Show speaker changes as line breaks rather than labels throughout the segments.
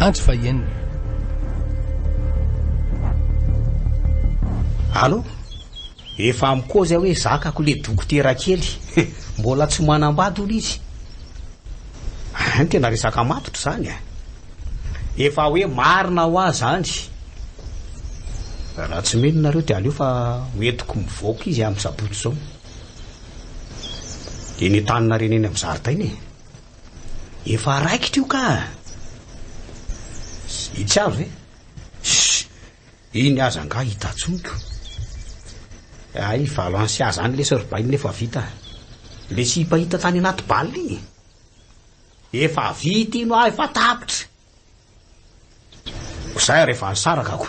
Andro fahenina.
Allo? Efa am kozy aho hoe zakako le dokotera kely. Mbola tsy manambady hono izy. Ah, ny tena resaka matotra izany a. Efa hoe marina ho ahy izany. Raha tsy mino nareo dia aleo fa hoentiko mivoaka izy amin'ny sabotsy izao. Eny an-taninareo eny amin'ny zaridaina e. Efa raikitra io ka. Itsy avy ve? Shh! Iny aza angaha hita tsoniko. Ay, valo ans sy aza any le surbain efa vita. Le sipa hita tany anaty bal iny. Efa vita iny hoa, efa tapitra. Ko zay ary efa nisaraka ko.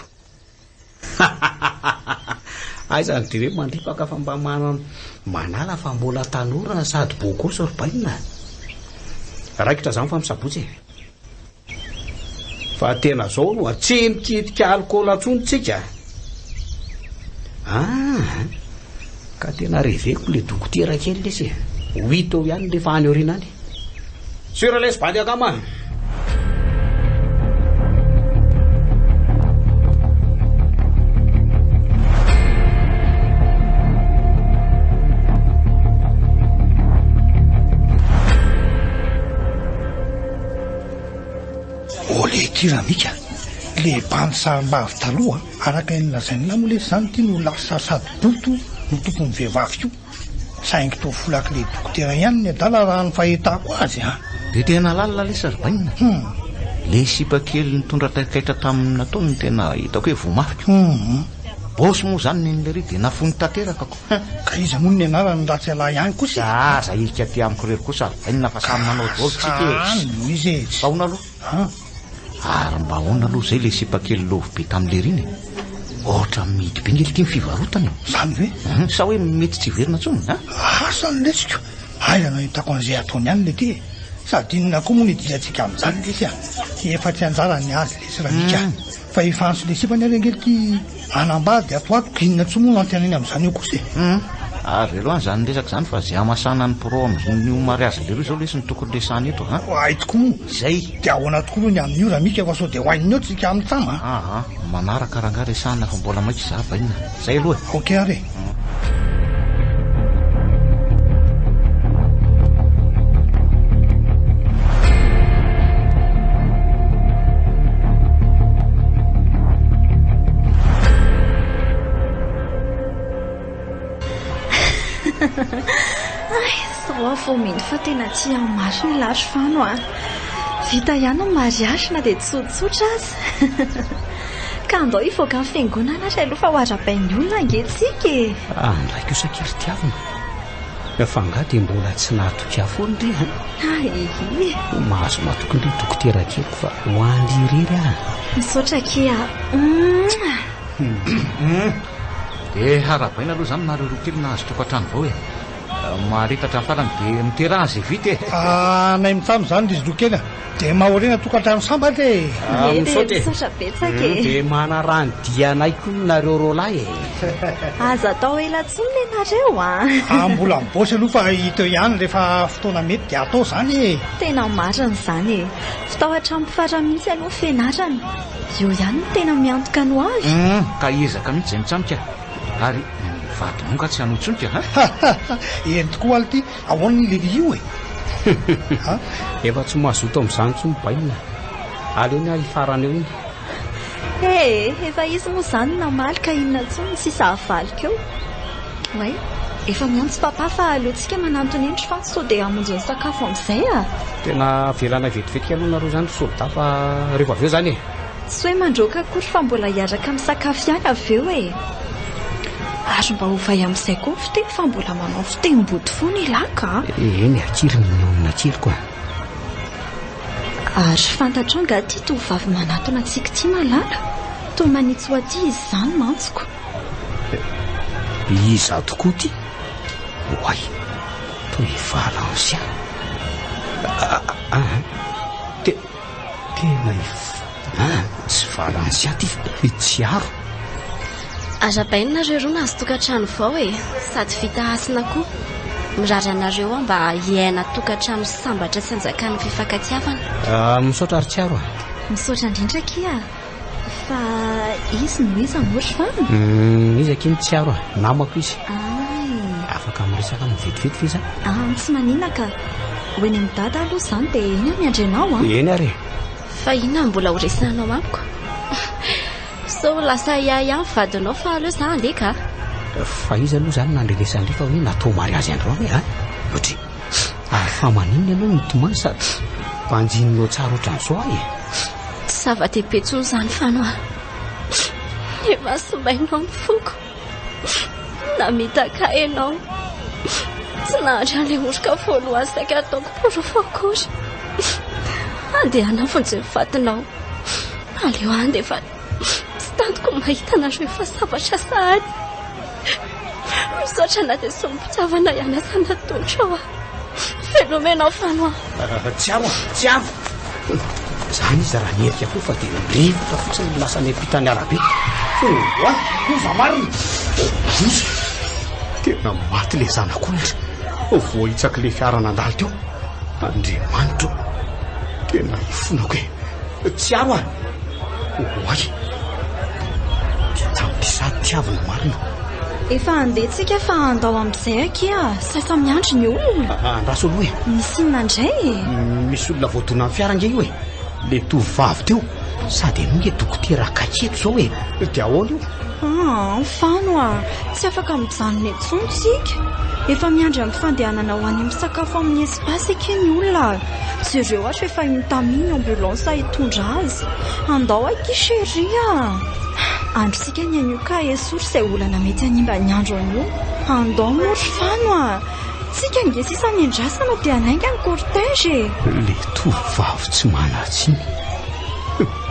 Aiza ny dire mandripaka fa mba manana manala fa mbola tanora sady beau gosse ry bainina. Raikitra zany fa misabotsy e. Fa tena zao no tsy mikitika alcool intsony tsika. Ah, ka tena reveko le dokotera kely lesy e. Ho hita eo ihany rehefa any aoriana any. Sira lesy bandy akama.
Ô le kira mika, le bandy sarimbavy taloha, araka ny lazain'lah moa lesy zany ty no lasa sady boto no tompon'ny vehivavy ko, saingy toa folaky le dokotera ihany ny adala raha ny fahitako azy a. Dia tena lalina
lesy ry bainina e! Le sipa kely nitondra taikaitra taminy nataony no tena hitako hoe voamafy ko! Boss moa zany neny lery dia nafoiny tanteraka ko! Hum, ka iza moa ny
nianarany raha tsy ialahy ihany kosa e! Ka aza hirika aty amiko
irery kosa a! Inona fa samy manao dôly tsika e! Ka any no izy e! Ahoana
aloha?
Ary mba ahoana aloha izay ilay sipa kely lôvy be tamin'i Lery iny e! Ohatra mihidy be ny elo ity ny fivarotany e! Izany ve? Hum,
sa hoe mety tsy hiverina
intsony a! Asa ny letsiko!
Aiza no ahitako an'izay ataony any ilay ty e! Sady inona koa moa no idirantsika amin'izany lesy a! Efa tsy anjarany ny azy lesy Ramika a! Fa efa antso lesibany ary ange ity hanambady ato ato, inona tsoa moa no antenainy amin'izany eo kosa e? Hum, avelo
any izany resaka izany fa izay hamasana ny pro amin'ny ny ho mariazin'ny lehiloha izao lesy no tokony resahana eto an! Hay tokoa moa! Izay!
Dia ahoana
tokoa moa ny
amin'io Ramika fa sao dia ho ain'ny eo tsika amintsama an! Aha, manaraka
rangahy resahana fa mbola maika izaho bainina. Zay aloha e. Ok ary
e. Fomento fa tena tsy hamaso ny lahy fano a. Vita ihany ny mariage na dia tsotsotra aza. Ka andao hivoaka ny fiangonana ary aloha fa ho arabain'ny olona ange tsika e. Andray kosa
kely tiavina. Fa angaha dia mbola tsy nahatoky ahy foana re an? Ahihi. Ho mahazo matoky indray dokotera kely fa ho any irery aho. Misaotra akia
a.
Dia harabaina aloha izany nareo roa kely nahazo tokantrano vao e. Maharitatra ny farany dia miteraha izay vita e. Anay mitsam
izany ry zokely a. Dia mahorina tokantrano sambatra e! Ee, misaotra
betsaka e! Dia manaraha
ny dianay koa nareo roalahy e! Aza
atao ela intsony le nareo a! Aah, mbola mibaosy aloha
fa hita eo ihany rehefa fotoana mety dia atao izany e! Tena marina
izany e! Tsy tao hatramin'ny farany mihitsy aloha ny fianarana. Eo ihany no tena miantoka ny ho avy. Humm, ka hiezaka
mihitsy izay mitsanika ary ny vadinao nga tsy hanao tsony ka a!
Eny tokoa alo ty! Ahoana i Levy io e? Efa
tsy mazoto amin'izany intsony ny bainina e. Aleony aho hifarana eo iny. Hey,
efa izy moa izany no namaly ka inona intsony ny sisa havaliko eo. Way, efa miantso Papa fa aleontsika manantona eny fa sao dia hamonjy ny sakafo amin'izay a! Tena
avelanay vetivety aloha nareo izany ry soldat fa revo avy eo izany e. Tsy hoe mandroaka
akory fa mbola hiaraka misakafo ihany avy eo e! Ary mba ovay amin'izay koa ny fiteny fa mbola manao fitenim-boto foana i Laka a! Eny a, tsiry
ny nonon' atsiriko a!
Ary fantatrao angaha ity tovovavy manatona antsika ity Malala? Toa manitsy ho aty izy izany mantsiko.
Iza tokoa ity? Oay! Toa efa l'ancien! Aa! Tena ivoho an! Tsy Varansia ty fa i Tsiaro. Arabaina
nareo roa nahazo tokantrano vao e! Sady vita hasina koa. Mirary anareo aho mba hiaina tokantrano sambatra sy hanjakan'ny fifankatiavana. Misaotra ry Tsiaro
a! Misaotra indrindra
akia! Fa izy no iza moa ry Fano? Hum, izy akia no
tsiaro a, namako izy. Ay. Afaka miresaka aminy vetivety ve izaho? Ah, tsy maninona ka.
Ho eny amin'i Dada aloha izany dia eny aho miandry anao an! Eny ary e!
Fa inona no
mbola horesahanao amiko? Sao lasa ahiahy ihany vadinao fa aleo izaho handeha ka! Fa iza
aloha izany nandre ilay sandry fa hoe natao mariazy androany e? An? Ohatry. Ary fa maninona ianao mitomany sady banjininao tsara ohatran'izao ahy e? Tsy
zava-dehibe intsony izany Fanois. Ny masoimainao amin'ny foko. Namitaka ahy ianao. Tsy nahazo an'ilay oroka voalohany saika nataoko porofo akory. Andeha hanao vonjy ny fatinao. Aleo handefa. Tsy tantiko ny mahita anareo efa sambatra sahady. Misaotra na dia sombin-pitiavana ihany aza natolotra aho. Fenomena aho fano aho. Ah, tsy avo,
tsy avo. Izany izy raha nierika koa fa dia rivotra fotsiny ny lasany am-pitan'ny arabe. Oa, loza marina. Loza. Tena maty le zanak'ondry. Voahitsaky le fiara nandalo teo. Andriamanitra o. Tena ifonako e. Tsiaro aho. Oay. Dia tamiko sady tiavina marina. Efa handeha
tsika fa andao amin'izay akia sasa miandry ny olona. Ah, andraso aloha e. Misy
inona indray
e? Misy olona
voadonan'ny fiara ange io e. Le tovovavy teo sady ianao nge dokotera akaiky eto zao e. Dia ahoana io? Ah, fano ah.
Tsy afaka mijanona intsony tsika. Efa miandry amin'ny fandehanana ho any misakafo amin'ny Asa akia ny olona a! Jereo ary fa efa iny tamia ny ambulance hitondra azy. Andao akia chérie a! Andrisika ny anio ka esory izay olana mety hanimba ny andro anio. Andao moa ry Fano a! Tsika ange sisa miandrasana dia hanainga ny cortège e! Le
tovovavy tsy manan-tsiny.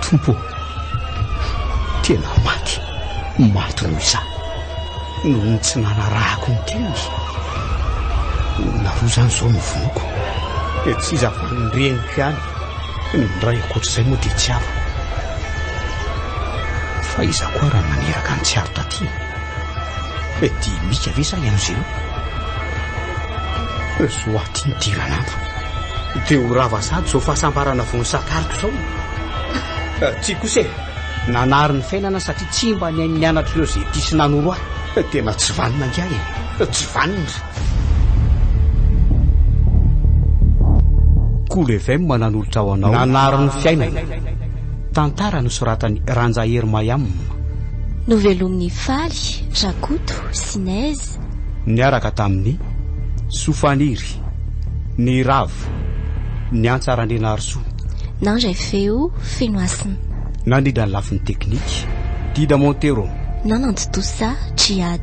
Tompo ô! Tena maty, maty noho izaho. Noho ny tsy nanarahako ny teniko no narozany izao ny vonoko. Dia tsy izy avan'ny reniko ihany ny miray ankoatr'izay moa dia tsy avako. Fa iza koa raha naneraka ny tsiaro taty? Dia mika ve sa ianao Zéro? Zo aty ny diran'andro. Dia ho rava sady izao fahasambarana vao nisakariko izao. Tsia kosa e! Nanary ny fiainana satria tsy mba nihaino ny anatr'ireo izay tia sy nanoro ahy. Tena tsy vanona angaha e! Tsy vanona! Cool FM nanolotra ho anao. Nanary ny fiainana. Tantara nosoratan'i Ranjahery Mayam. Novelomin'i
Faly, Rakoto, Sinez. Niaraka
tamin'i Soa Faniry. Marika. Ny ravo. Ny antsa Randrianarisoa. Na indray feo
feno hasina. Nandrindra ny
lafiny teknika. Dida Montero. Na nantontosa Djihad.